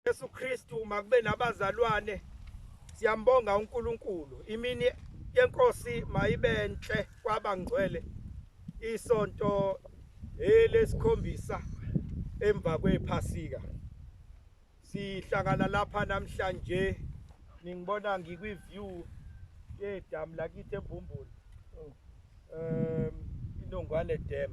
Yesu Kristu makube nabazalwane siyambonga uNkulunkulu imini yenkosi mayibenhle kwabangcwele isonto elesikhombisa emva kwephasika sihlangana lapha namhlanje ningibona ngikwi view yedamu lakithi eBhumbulu um inongwane dam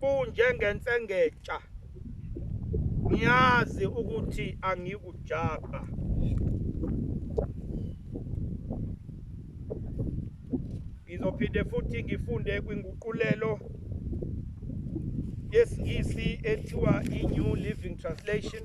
Kunjengentsengexa. Ngiyazi ukuthi angikujabha. Ngizophinde futhi ngifunde kwinguqulelo yesiNgisi ethiwa i-New Living Translation.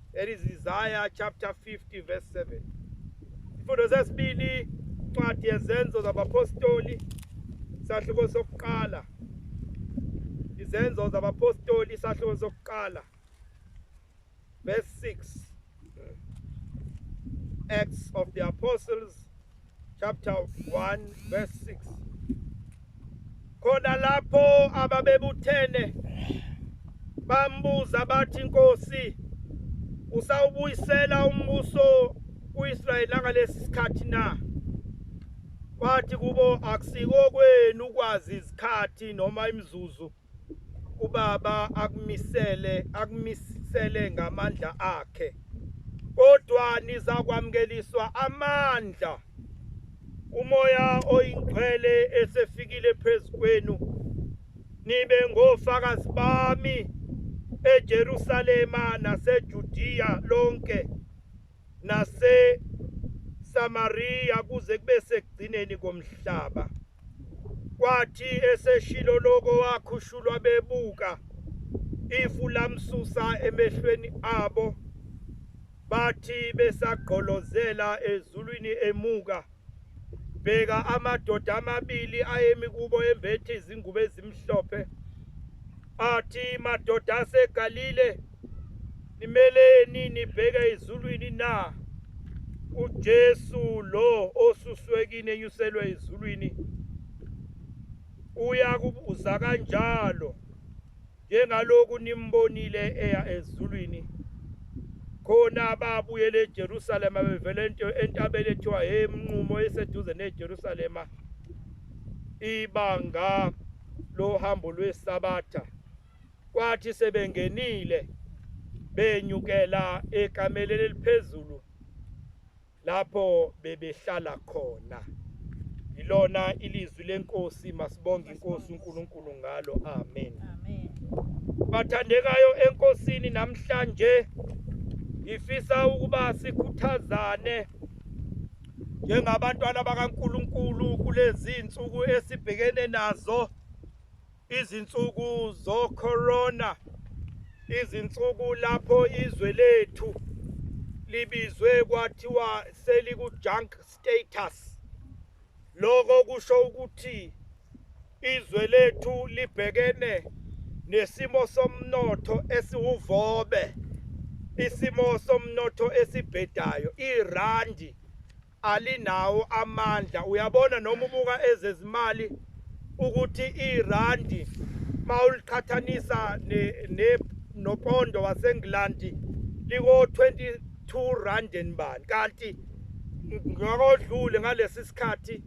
That is Isaiah chapter 50 verse 7. Isifundo sesibili incwadi yezenzo zabapostoli sahluko sokuqala. Izenzo zabapostoli sahluko sokuqala. Verse 6. Acts of the Apostles chapter 1 verse 6 khona lapho ababebuthene bambuza bathi inkosi usawubuyisela umbuso kuIsrayeli ngalesi sikhathi na wathi kubo akusiko kwenu ukwazi izikhathi noma imizuzu ubaba akumisele akumisele ngamandla akhe kodwa nizakwamukeliswa amandla umoya oyingcwele esefikile phezukwenu nibe ngofakazi bami eJerusalema naseJudiya lonke naseSamariya kuze kube sekugcineni komhlaba. Kwathi eseshilo lokho wakhushulwa bebuka ifu lamsusa emehlweni abo bathi besagqolozela ezulwini emuka bheka amadoda amabili ayemi kubo embethe izingubo ezimhlophe athi madoda asegalile nimeleni nibheke ezulwini na uJesu lo osuswekini enyuselwe ezulwini uyakubuza kanjalo Njengaloku nimbonile eya ezulwini, khona babuyela eJerusalema bevele ento entabeni ethiwa emnqumo eseduze neJerusalema ibanga lohambo lwesabatha kwathi sebengenile benyukela ekameleni eliphezulu lapho bebehlala khona ilona ilizwi lenkosi masibonge inkosi uNkulunkulu ngalo amen amen bathandekayo enkosini namhlanje ngifisa ukuba sikhuthazane njengabantwana bakaNkuluNkulu kulezi insuku esibhekene nazo Izinsuku zoCorona, izinsuku lapho izwe lethu libizwe kwathiwa seliku-junk status. Lokho kusho ukuthi izwe lethu libhekene nesimo somnotho esiwuvobe, isimo somnotho esibhedayo, irandi alinawo amandla uyabona noma ubuka ezezimali ukuthi irandi mawuliqhathanisa ne, ne nopondo waseNgland liko 22 rand and bani kanti ngakodlule ngalesi sikhathi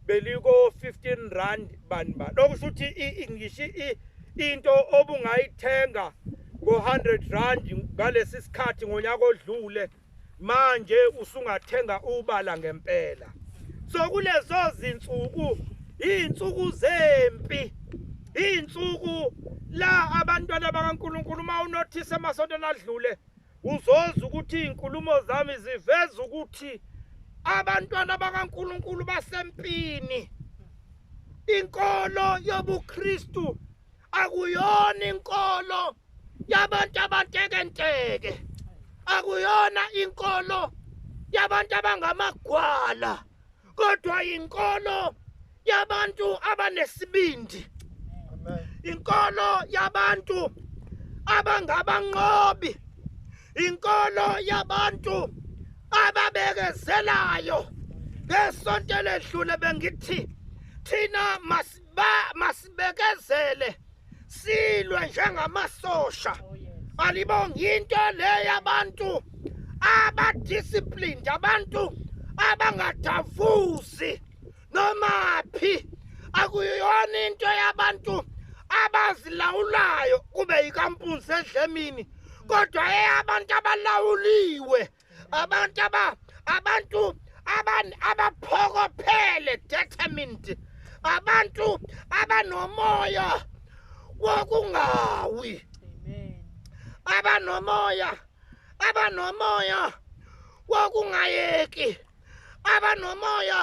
beliko 15 rand bani bani okusho ukuthi ingishi into obungayithenga ngo 100 rand ngalesi sikhathi ngonyaka odlule manje usungathenga ubala ngempela so kulezo zinsuku izinsuku zempi izinsuku la abantwana bakaNkuluNkulu uma unothise emasontweni adlule uzoza ukuthi izinkulumo zami ziveza ukuthi abantwana bakaNkuluNkulu basempini inkolo yobuKristu akuyona inkolo yabantu abantekenteke akuyona inkolo yabantu abangamagwala kodwa inkolo yabantu abanesibindi inkolo yabantu abangabanqobi inkolo yabantu ababekezelayo ngesonto eledlule bengithi thina mas ba masibekezele silwe njengamasosha oh, alibongi into le yabantu abadisciplined abantu abangadavuzi noma phi akuyona into yabantu abazilawulayo kube yikampunzi edlemini kodwa eyabantu abalawuliwe abantu aba abantu abantu abaphokophele determined abantu abanomoya wokungawi abanomoya abanomoya wokungayeki abanomoya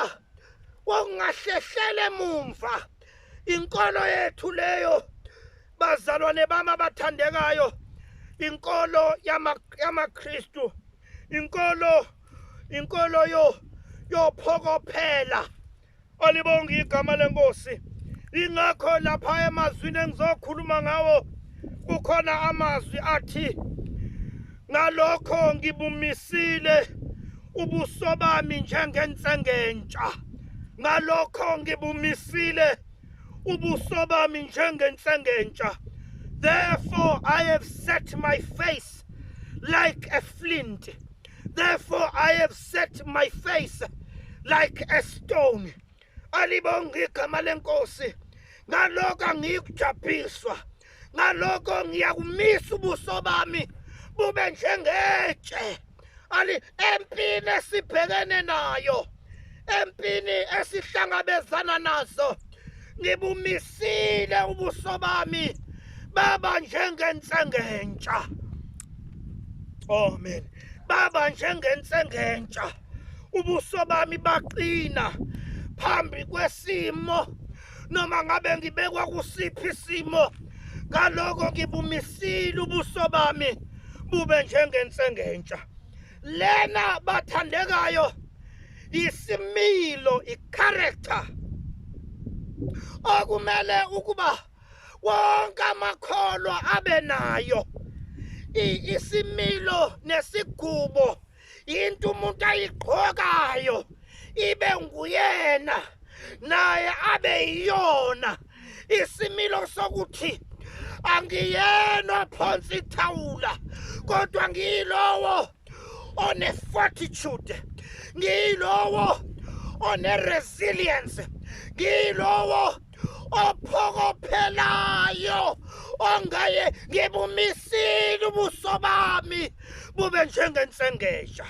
wokungahlehlele mumva inkolo yethu leyo Bazalwane bami abathandekayo, inkolo yamaKristu, inkolo inkolo yo yophokophela olibonga igama lenkosi ingakho lapha emazwini engizokhuluma ngawo kukhona amazwi athi ngalokho ngibumisile ubuso bami njengensengentsha ngalokho ngibumisile ubuso bami njengensengentsha therefore i have set my face like a flint therefore i have set my face like a stone alibonga igama lenkosi ngalokho angiyikujabhiswa ngalokho ngiyakumisa ubuso bami bube njengetshe ali empini esibhekene nayo empini esihlangabezana nazo ngibumisile ubuso bami baba njengensengentsha amen baba njengensengentsha ubuso bami baqina phambi kwesimo noma ngabe ngibekwa kusiphi isimo ngaloko ngibumisile ubuso bami bube njengensengentsha lena bathandekayo isimilo icharacter okumele ukuba wonke amakholwa abe nayo isimilo nesigubo into umuntu ayigqokayo ibe nguyena naye abe yiyona isimilo sokuthi angiyena ophonsa ithawula kodwa ngiyilowo one-fortitude ngiyilowo one-resilience ngiyilowo ophokophelayo ongaye ngibumisile ubuso bami bube njengensengesha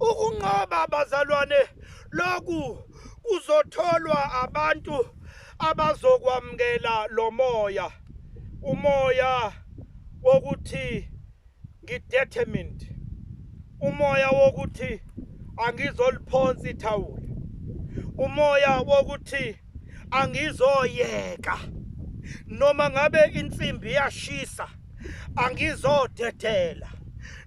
ukunqoba abazalwane lokhu kuzotholwa abantu abazokwamukela lo moya umoya wokuthi ngidetermined umoya wokuthi angizoliphonsa ithawula umoya wokuthi angizoyeka noma ngabe insimbi yashisa angizodedela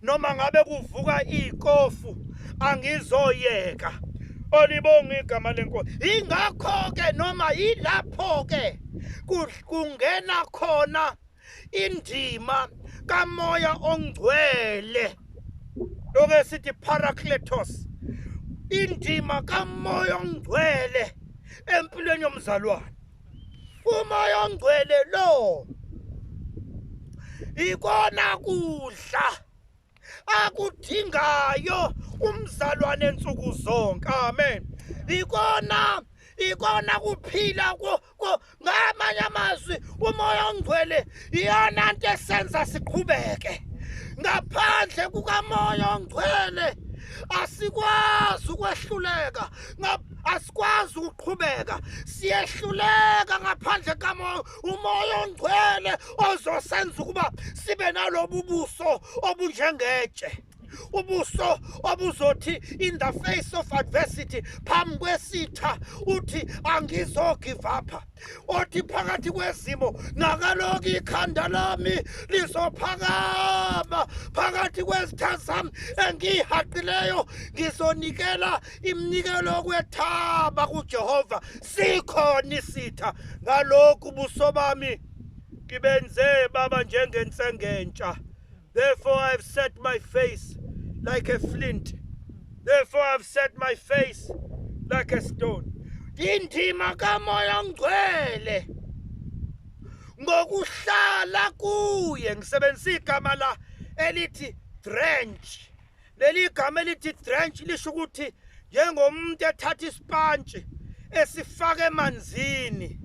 noma ngabe kuvuka iy'kofu angizoyeka olibonga igama lenkosi ingakho-ke noma yilapho-ke kungena khona indima kamoya ongcwele loke sithi paracletos indima kamoya ongcwele empilweni yomzalwane umoya ongcwele lo ikona kudla akudingayo umzalwane nsuku zonke amen ikona ikona kuphila ko ko ngamanye amazwi umoya ongcwele iyona nto esenza siqhubeke ngaphandle kukamoya ongcwele asikwazi ukwehluleka asikwazi ukuqhubeka siyehluleka ngaphandle kamoya umoya ongcwele ozosenza ukuba sibe nalobu buso obunjengetshe ubuso obuzothi in the face of adversity phambi kwesitha uthi angizogive up othi phakathi kwezimo ngakaloku ikhanda lami lizophakama phakathi kwezitha zami engiyihaqileyo ngizonikela Iminikelo yokwethaba kuJehova sikhona isitha ngalokhu ubuso bami ngibenze baba njengensengentsha therefore i have set my face like a flint therefore i have set my face like a stone indima kamoya ongcwele ngokuhlala kuye ngisebenzisa igama la elithi drench Leli gama elithi drench lisho ukuthi njengomuntu ethatha isipantshi esifaka emanzini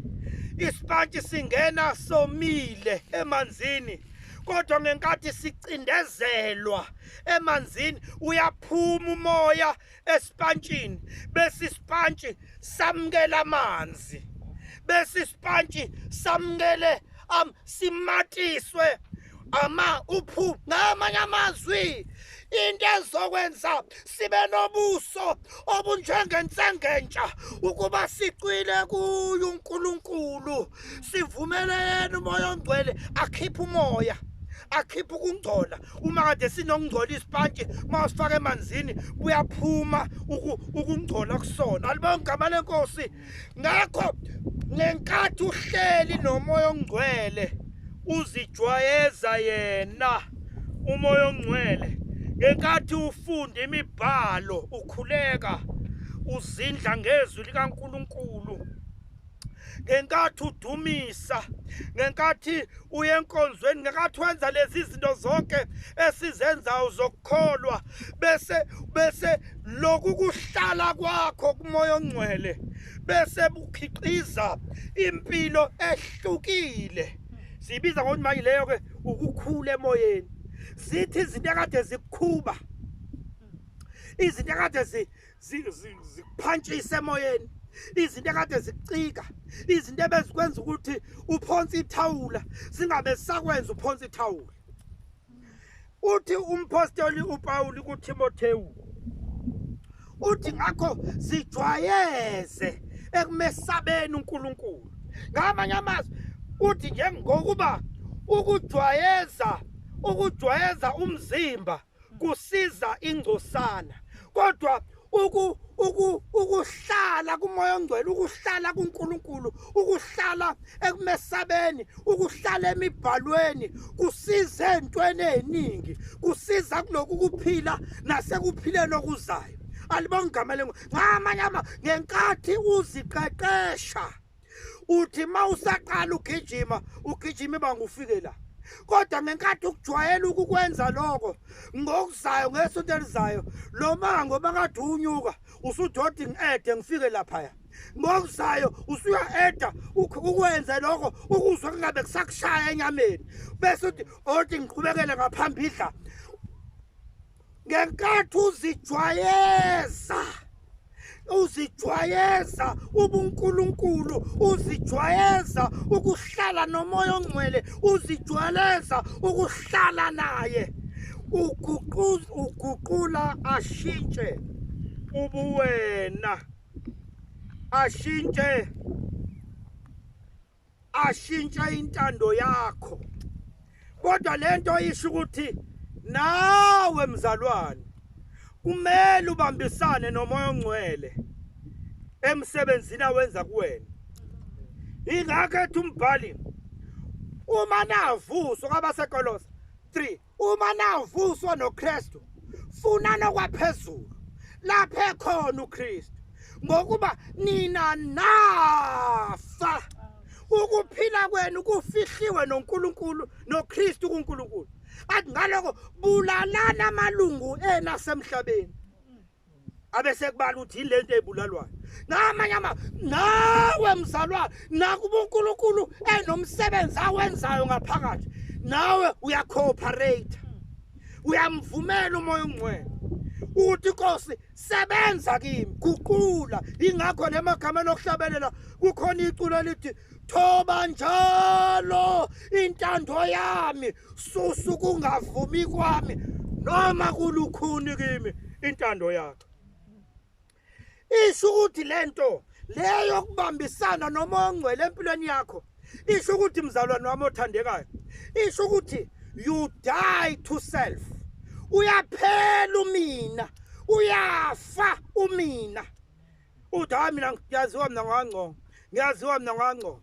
isipantshi singena somile emanzini kodwa ngenkathi sicindezelwa emanzini uyaphuma umoya esipantshini bese isipantshi samukela amanzi bese isipantshi samukele simatiswe ama uphu ngamanye amazwi into ezokwenza sibe nobuso obunjengensengentsha ukuba sicwile kuyo uNkulunkulu sivumele yena umoya ongcwele akhiphe umoya akhiphe ukungcola uma kade sinokungcola isipantshi uma usifaka emanzini buyaphuma ukungcola kusona alibonke igama lenkosi ngakho ngenkathi uhleli nomoya ongcwele uzijwayeza yena umoya ongcwele ngenkathi ufunda imibhalo ukhuleka uzindla ngezwi likaNkuluNkulu ngenkathi udumisa ngenkathi uyenkonzweni ngenkathi wenza lezi zinto zonke esizenzayo zokukholwa bese bese lokhu kuhlala kwakho kumoya ongcwele bese bukhiqiza impilo ehlukile sibiza ngokuthi manje leyo ke ukukhula emoyeni zithi izinto ekade zikukhuba izinto ekade zikuphantshisa emoyeni izinto ekade zicika izinto ebezikwenza ukuthi uphonse ithawula singabe sakwenza uphonse ithawula uthi umphostoli uPawulu kuThimothewu uthi ngakho sijwayeze ekumesabeni uNkulunkulu ngamanye amazwi uthi njengokuba ukujwayeza ukujwayeza umzimba kusiza ingcosana kodwa uku uku ukuhlala kumoya ongcwele ukuhlala kuNkulunkulu ukuhlala ekumesabeni ukuhlala emibhalweni kusiza entweni eziningi kusiza kuloku kuphila nasekuphileni okuzayo alibonga igama lengu ngamanye ama ngenkathi uziqeqesha uthi uma usaqala ugijima ugijima ibanga ufike la kodwa ngenkathi ukujwayela ukukwenza lokho ngokuzayo ngesonto elizayo lo mango bakade unyuka usudodi ngi-ede ngifike laphaya ngokuzayo usuya-eda ukwenze lokho ukuzwa kungabe kusakushaya enyameni bese uthi odi ngiqhubekele ngaphambidla ngenkathi uzijwayeza uzijwayeza ubunkulunkulu uzijwayeza ukuhlala nomoya ongcwele uzijwayeza ukuhlala naye uguqula ashintshe ubuwena ashintshe ashintshe intando yakho kodwa lento isho ukuthi nawe mzalwane kumele ubambisane nomoya ongcwele emsebenzini awenza kuwena ingakho ethi umbhali uma navuso kwabasekolosa 3 Uma navuswa noKristu, funa nokwaphezulu lapha ekhona uKristu ngokuba nina nafa ukuphila kwenu kufihliwe noNkulunkulu noKristu kuNkulunkulu athi ngaloko bulalana amalungu ena semhlabeni abesekubala ukuthi yini lento ebulalwayo namanye ama nawe mzalwane nakuba uNkulunkulu enomsebenzi awenzayo ngaphakathi nawe uyacooperate uyamvumela umoya ongcwele uthi inkosi sebenza kimi guqula ingakho lemagameni okuhlabelela kukhona iculo elithi thoba njalo intando yami susa ukungavumi kwami noma kulukhuni kimi intando yakhe isho ukuthi lento leyo kubambisana noma ongcwele empilweni yakho isho ukuthi mzalwane wami othandekayo isho ukuthi you die to self uyaphela umina uyafa umina uthi hayi mina ngiyaziwa mina ngangcono ngiyaziwa mina ngangcono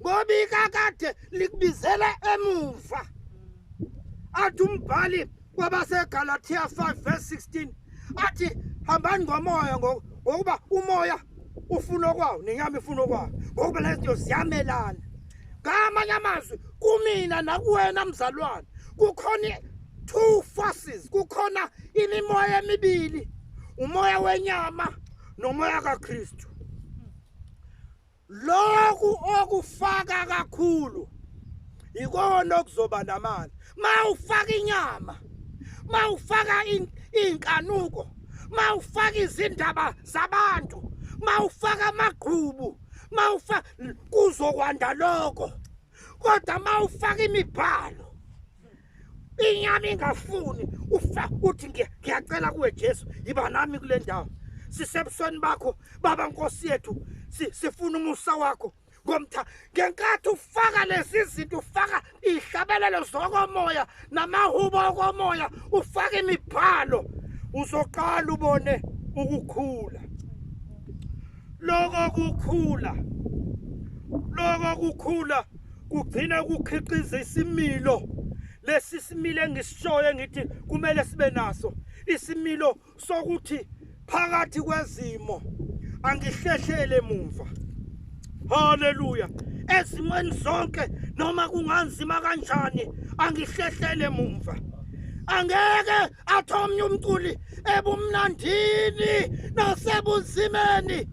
ngoba ikakade likubizela emuva athi umbhali kwabaseGalatia 5 verse 16 athi hambani ngomoya ngokuba umoya ufuna okwawo nenyama ifuna okwawo ngokuba lezinto ziyamelana ngamanye amazwi kumina nakuwena mzalwane kukhona two forces kukhona imimoya emibili umoya wenyama nomoya kaKristu Lokhu okufaka kakhulu ikona okuzoba namali. Mawufaka inyama, mawufaka inkanuko, mawufaka izindaba zabantu, mawufaka amagqubu, mawufa kuzokwanda lokho. Kodwa mawufaka imibhalo inyama ingafuni ufa uthi ngiyacela kuwe Jesu yiba nami kule ndawo sisebusweni bakho baba nkosi yethu sifuna umusa wakho ngomtha ngenkathi ufaka lezi zinto ufaka ihlabelelo zokomoya namahubo okomoya ufaka imibhalo uzoqala ubone ukukhula lokho kukhula lokho kukhula kugcina kukhiqiza isimilo lesi simile engisishoyo ngithi kumele sibe naso isimilo sokuthi phakathi kwezimo angihlehlele mumva haleluya ezimweni zonke noma kunganzima kanjani angihlehlele mumva angeke athi omnye umculi ebumnandini nasebunzimeni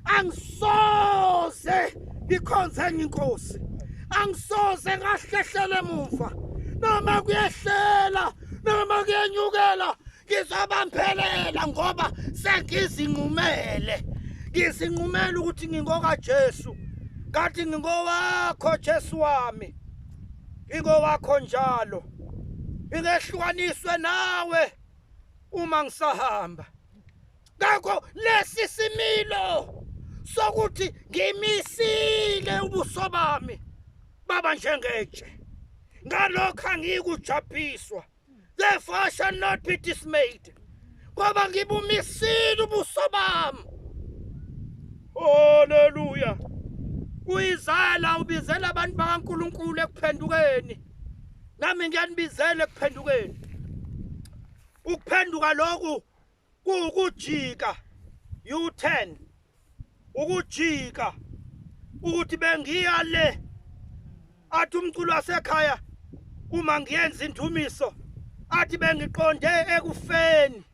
angisoze ngikhonze enye inkosi angisoze ngahlehlele emuva noma kuyehlela noma kuyenyukela ngizobambelela ngoba sengizinqumele ngizinqumele ukuthi ngingokaJesu kanti ngingowakho Jesu wami ingowakho njalo ngingehlukaniswe nawe uma ngisahamba ngakho lesi similo sokuthi ngimisile ubuso bami baba njengetshe ngalokho angiyikujabhiswa therefore I shall not be dismayed ngoba ngibumisile ubuso bami haleluya uyizala ubizela abantu bakaNkuluNkulu ekuphendukeni nami ngiyanibizela ekuphendukeni ukuphenduka lokhu kuwukujika u-turn ukujika ukuthi bengiya le athi umculo wasekhaya uma ngiyenza indumiso athi bengiqonde ekufeni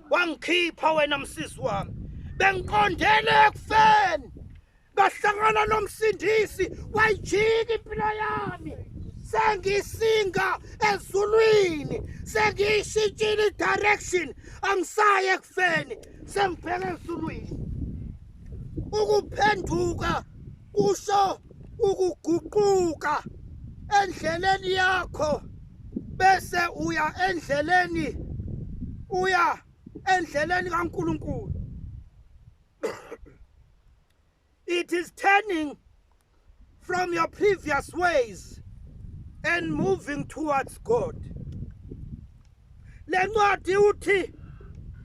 wangikhipha wena msisi wami bengiqondele ekufeni ngahlangana nomsindisi wayijika impilo yami sengisinga ezulwini sengiyishintshile direction angisaye ekufeni sengibheke esulwini ukuphenduka kusho ukuguquka endleleni yakho bese uya endleleni uya endleleni kaNkuluNkulu It is turning from your previous ways and moving towards God. Lencwadi uthi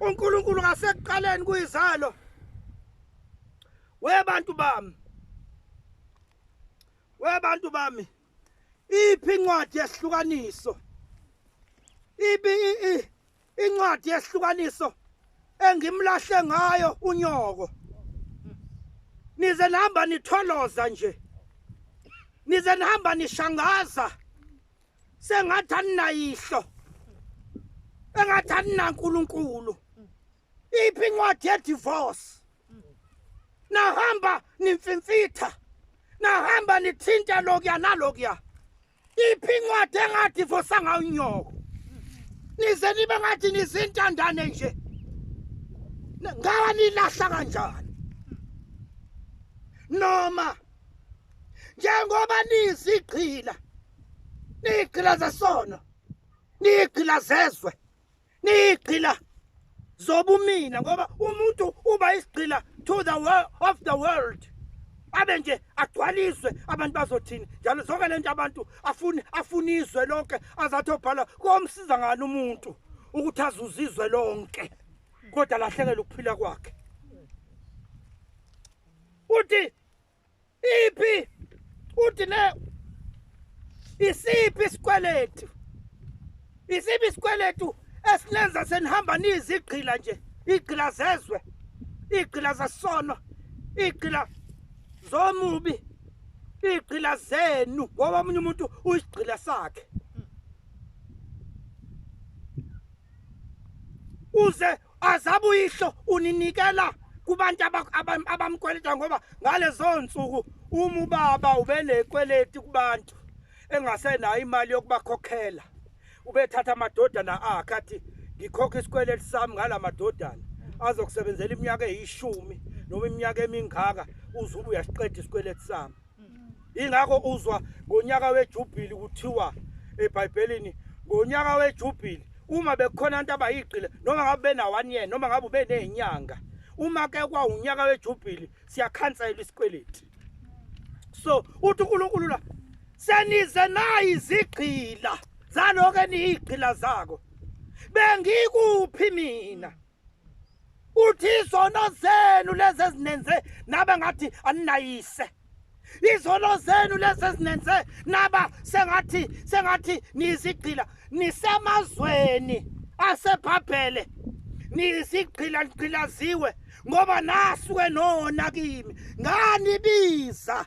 uNkulunkulu ngasekuqaleni kuyizalo webantu bami webantu bami iphi incwadi yehlukaniso ibi Incwadi yehlukaniso engimlahle ngayo unyoko. Nize nihamba nitholoza nje. Nize nihamba nishangaza. Sengathi aninayihlo. Engathi aninaNkulunkulu. Iphi incwadi ye divorce? Nahamba nimfimfitha. Nahamba nithinta lokuya nalokuya. iphi incwadi engadivosa ngayo unyoko nize nibe ngathi nizintandane nje ngawa nilahla kanjani noma njengoba nizigqila nigqila zesono nigqila zezwe niyigqila zobumina ngoba umuntu uba isigqila to the world of the world abe nje agcwaliswe abantu bazothini njalo zonke le nto abantu afuni afuni izwe lonke azathi obhala komsiza ngani umuntu ukuthi azuze izwe lonke kodwa lahlekela ukuphila kwakhe uthi Iphi uthi le isiphi isikweletu isiphi isikweletu esilenza senihamba nizigqila nje igqila zezwe igqila zesono igqila zomubi igqila zenu ngoba omunye umuntu uyisigqila sakhe uze azabe uyihlo uninikela kubantu abamkweleta ngoba ngalezo nsuku uma ubaba ubenekweleti kubantu engasenayo imali yokubakhokhela ubethatha amadodana akhe athi ngikhokha isikweleti sami ngala madodana azokusebenzela iminyaka eyishumi noma iminyaka emingaka uzuba uyasiqeda isikweleti sami ingakho uzwa ngonyaka wejubhili kuthiwa ebhayibhelini ngonyaka wejubhili uma bekhona abantu abayigqile noma ngabe benawani yena noma ngabe ubeney'nyanga uma ke kwawunyaka wejubhili siyakhansela isikweleti so uthi unkulunkulu la senize nayi izigqila zaloku eniyigqila zako bengikuphi mina uthi izono zenu lezi ezinenze naba ngathi aninayise izono zenu lezi ezinenze naba sengathi sengathi niyizigqila nisemazweni asebhabhele niyizigqila nigqilaziwe ngoba nasuke nona kimi nganibiza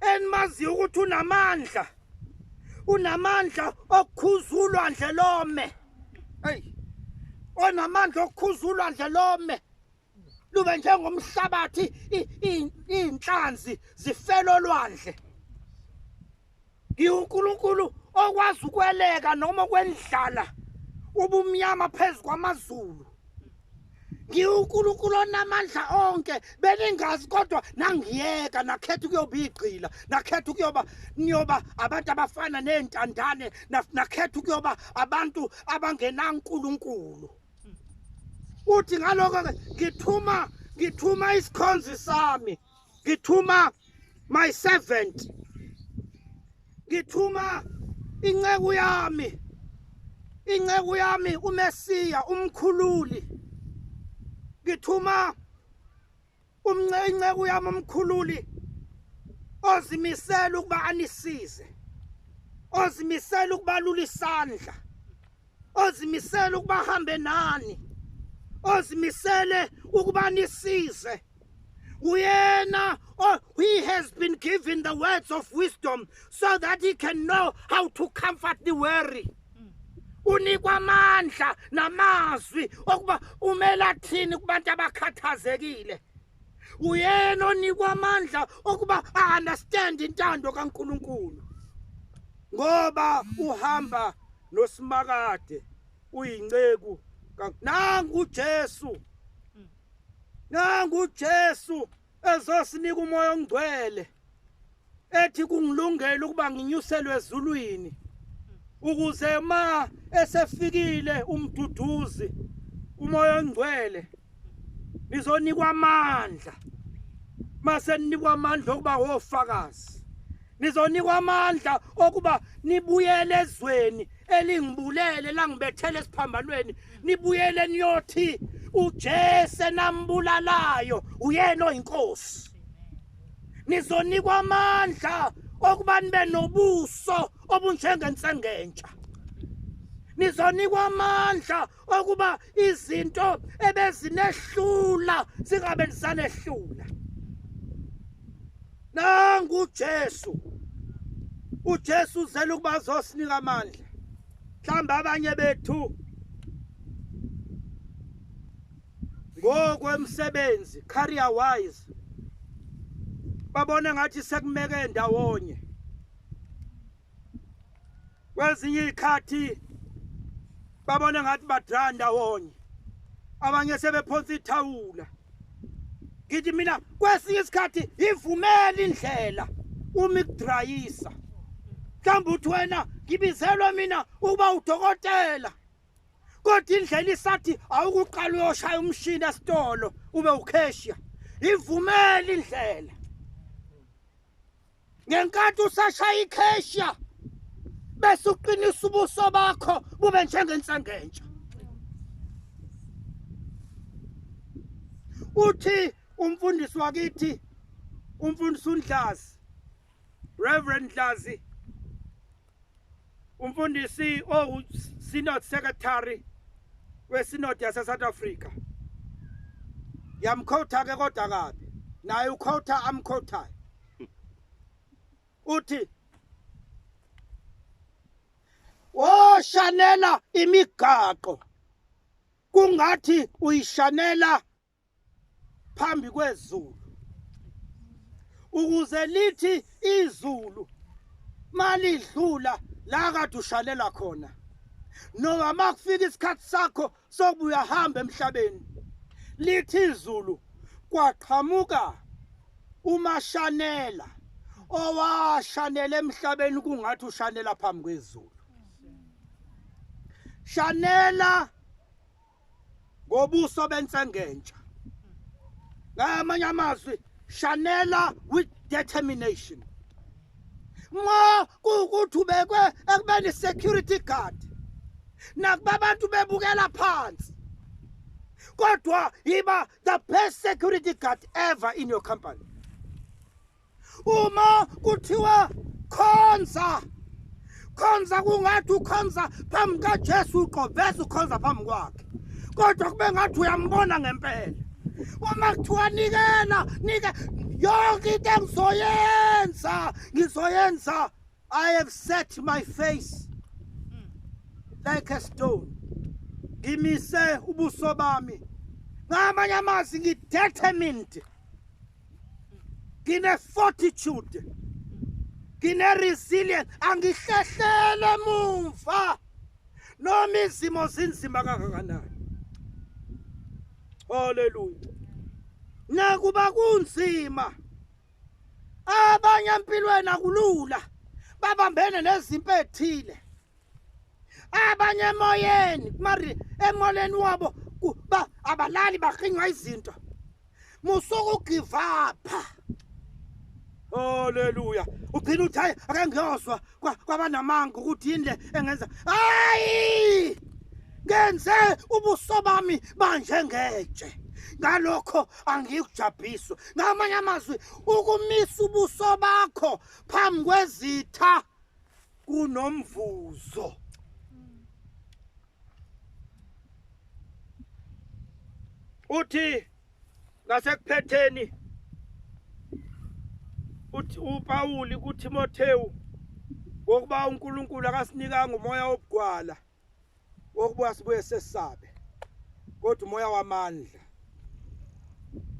enimaziyo ukuthi unamandla unamandla okukhuza ulwandle lome eyi onamandla okukhuza ulwandle lome lube njengomhlabathi iy'nhlanzi zifela olwandle ngiwunkulunkulu okwazi ukweleka noma okwendlala ubumnyama phezu kwamazulu ngiwunkulunkulu onamandla onke beningazi kodwa nangiyeka nakhetha ukuyoba igqila nakhetha ukuyoba niyoba abantu abafana ney'ntandane nakhetha ukuyoba abantu abangenankulunkulu uthi ngaloko-ke ngithuma ngithuma isikhonzi sami ngithuma my servant ngithuma inceku yami inceku yami uMesiya umkhululi ngithuma umnceku yami umkhululi ozimisela ukuba anisize ozimisela ukubalula isandla ozimisele ukuba hambe nani ozimisele ukuba nisize uyena oh, he has been given the words of wisdom so that he can know how to comfort the weary unikwa amandla namazwi okuba umela thini kubantu abakhathazekile uyena onikwa amandla okuba a-understand intando kaNkulunkulu ngoba uhamba nosimakade uyinceku nangu uJesu nangu uJesu ezosinika umoya ongcwele ethi kungilungela ukuba nginyuselwe ezulwini ukuze ma esefikile umduduzi umoya ongcwele nizonikwa amandla mase ninikwa amandla okuba wofakazi nizonikwa amandla okuba nibuyele ezweni elingibulele langibethele esiphambanweni nibuyele niyothi uJesu nambulalayo uyena oyinkosi nizonikwa amandla okuba nibe nobuso obunjengensengentsha nizonikwa amandla okuba izinto ebezinehlula zingabe nisanehlula nangu uJesu uJesu uzela ukuba azosinika amandla mhlawumbe abanye bethu ngokwemsebenzi career wise babone ngathi sekumeke ndawonye kwezinye izikhathi babone ngathi badra ndawonye abanye sebephonsa ithawula ngithi mina kwesinye isikhathi ivumela indlela uma ikudrayisa mhlawumbe uthi wena ngibizelwe mina ukuba udokotela kodwa indlela isathi awukuqala uyoshaya umshini esitolo ube ukheshiya ivumela indlela ngenkathi usashaya ikheshiya bese uqinisa ubuso bakho bube njengensangentsha uthi umfundisi wakithi umfundisi uNdlazi Reverend Dlazi Umfundisi owu Synod Secretary weSynod yase South Africa yamkhotha ke kodwa kabi naye ukhotha amkhothayo uthi woshanela imigaqo kungathi uyishanela phambi kwezulu ukuze lithi izulu malidlula la kade ushalela khona noma makufika isikhathi sakho sokubuya hamba emhlabeni lithi izulu kwaqhamuka umashanela owashanela emhlabeni kungathi ushanela phambi kwezulu shanela ngobuso bensengentsha ngamanye amazwi shanela with determination nxa kuwukuthi ubekwe ekubeni security guard nakuba abantu bebukela phansi kodwa yiba the best security guard ever in your company uma kuthiwa khonza khonza kungathi ukhonza phambi kaJesu uqoveza ukhonza phambi kwakhe kodwa kube ngathi uyambona ngempela uma kuthiwa nikela nike yonke into engizoyenza ngizoyenza i have set my face like a stone ngimise ubuso bami ngamanye amazwi ngidetermined ngine-fortitude ngine-resilience angihlehlele mumva noma izimo zinzima kangakanani haleluya nakuba kunzima abanye empilweni akulula babambene nezimpi ethile abanye emoyeni mari emoleni wabo abalali bahinywa izinto musuku give up Haleluya. Ugcina uthi hayi ake ngiyozwa kwabanamanga ukuthi yini le engenza. Hayi! Ngenze ubuso bami banje ngetshe. Ngalokho angikujabhiswa. Ngamanye amazwi ukumisa ubuso bakho phambi kwezitha kunomvuzo uthi ngasekupheteni uthi uPawuli kuTimothewu ngokuba uNkulunkulu akasinikanga umoya obugwala Okubuya sibuye sesabe. Kodwa umoya wamandla.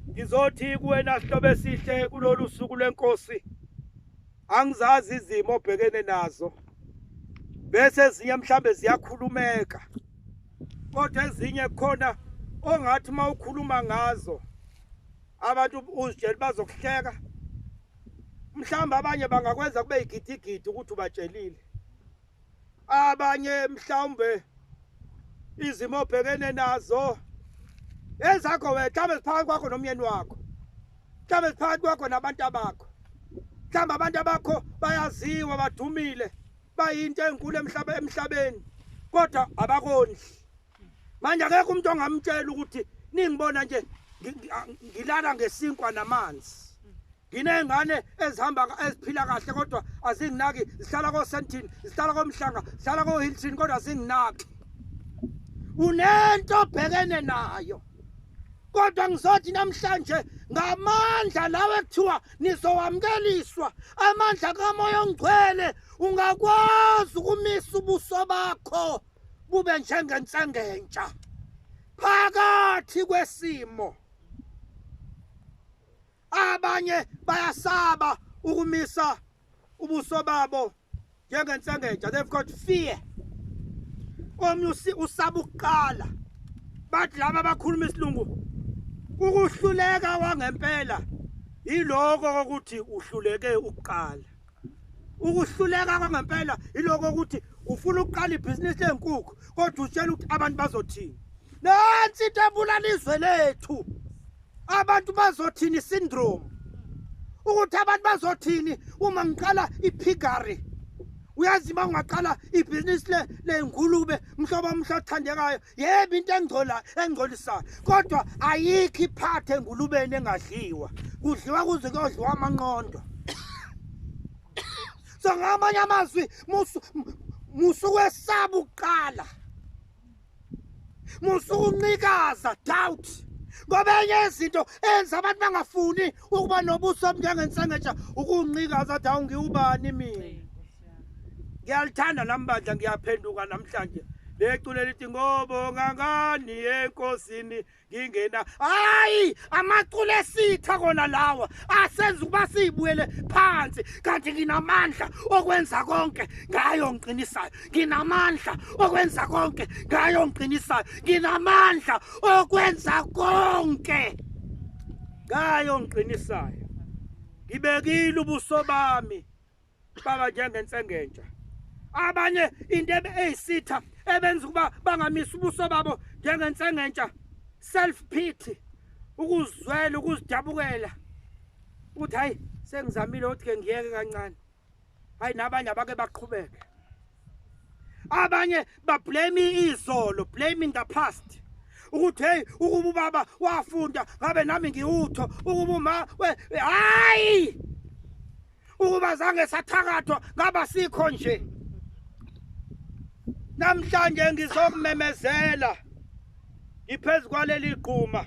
Ngizothi kuwena sihlobo esihle kulolu suku lwenkosi. Angizazi izimo obhekene nazo. Bese ezinye mhlambe ziyakhulumeka. Kodwa ezinye khona ongathi uma ukhuluma ngazo abantu uzitshela bazokuhleka mhlawumbe abanye bangakwenza kube yigidigidi ukuthi ubatshelile abanye mhlawumbe izimo obhekene nazo ezakho wena mhlawumbe ziphakathi kwakho nomyeni wakho mhlawumbe ziphakathi kwakho nabantu abakho mhlawumbe abantu abakho bayaziwa badumile bayinto enkulu emhlaba emhlabeni kodwa abakondli manje akekho umuntu ongamtshela ukuthi ningibona nje ngilala ngesinkwa namanzi nginey'ngane ezihamba eziphila kahle kodwa azinginaki zihlala kosentin zihlala komhlanga zihlala kohilton kodwa azinginaki unento obhekene nayo kodwa ngizothi namhlanje ngamandla lawe kuthiwa nizowamkeliswa amandla kamoya ongcwele ungakwazi ukumisa ubuso bakho kube njengensengentsha phakathi kwesimo abanye bayasaba ukumisa ubuso babo njengensengentsha they've got fear omnye usaba ukuqala bathi laba abakhuluma isilungu ukuhluleka wangempela yiloko ukuthi uhluleke ukuqala ukuhluleka kwangempela iloko ukuthi ufuna ukuqala ibhizinisi leenkukhu kodwa utshela ukuthi abantu bazothini nansi into ebulala izwe lethu abantu bazothini syndrome ukuthi abantu bazothini uma ngiqala iphigari uyazi uma ungaqala ibhizinisi ley'ngulube mhlobo omhle othandekayo yebo into engcola engcolisayo kodwa ayikho iphathe engulubeni engadliwa kudliwa kuze kuyodliwa amanqondo so ngamanye amazwi musukwesaba ukuqala musukuncikaza doubt ngoba enye izinto enza abantu bangafuni ukuba nobuso obunjengensengeja ukuncikaza athi awungiwubani mina ngiyalithanda nami bandla ngiyaphenduka namhlanje leculo elithi ngobonga ngani enkosini ngingena hayi amaculo esitha kona lawa asenza ukuba siyibuyele phansi kanti nginamandla okwenza konke ngayo ngiqinisayo nginamandla okwenza konke ngayo ngiqinisayo nginamandla okwenza konke ngayo ngiqinisayo ngibekile ubuso bami baba njengensengentsha abanye into eyisitha ebenza ukuba bangamisa ubuso babo njengensengentsha self pity ukuzwela ukuzidabukela ukuthi hayi sengizamile ukuthi ke ngiyeke kancane hayi nabanye abake baqhubeke abanye bablame izolo blame in the past ukuthi hey ukuba ubaba wafunda ngabe nami ngiwutho ukuba uma we hayi ukuba zange sathakathwa ngaba sikho nje namhlanje ngizokumemezela ngiphezu kwaleli gquma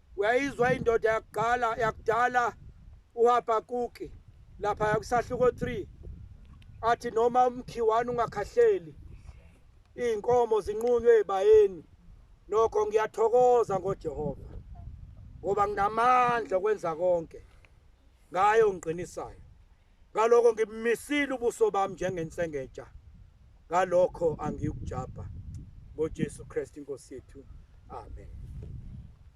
Uyayizwa indoda yakuqala yakudala uHabakuki lapha yakusahluko 3 athi noma umkhiwani ungakhahleli izinkomo zinqunywe ebayeni nokho ngiyathokoza ngoJehova ngoba nginamandla okwenza konke ngayo ngiqinisayo ngaloko ngimisile ubuso bami njengensengeja ngalokho angiyukujabha ngoJesu Kristu inkosi yethu amen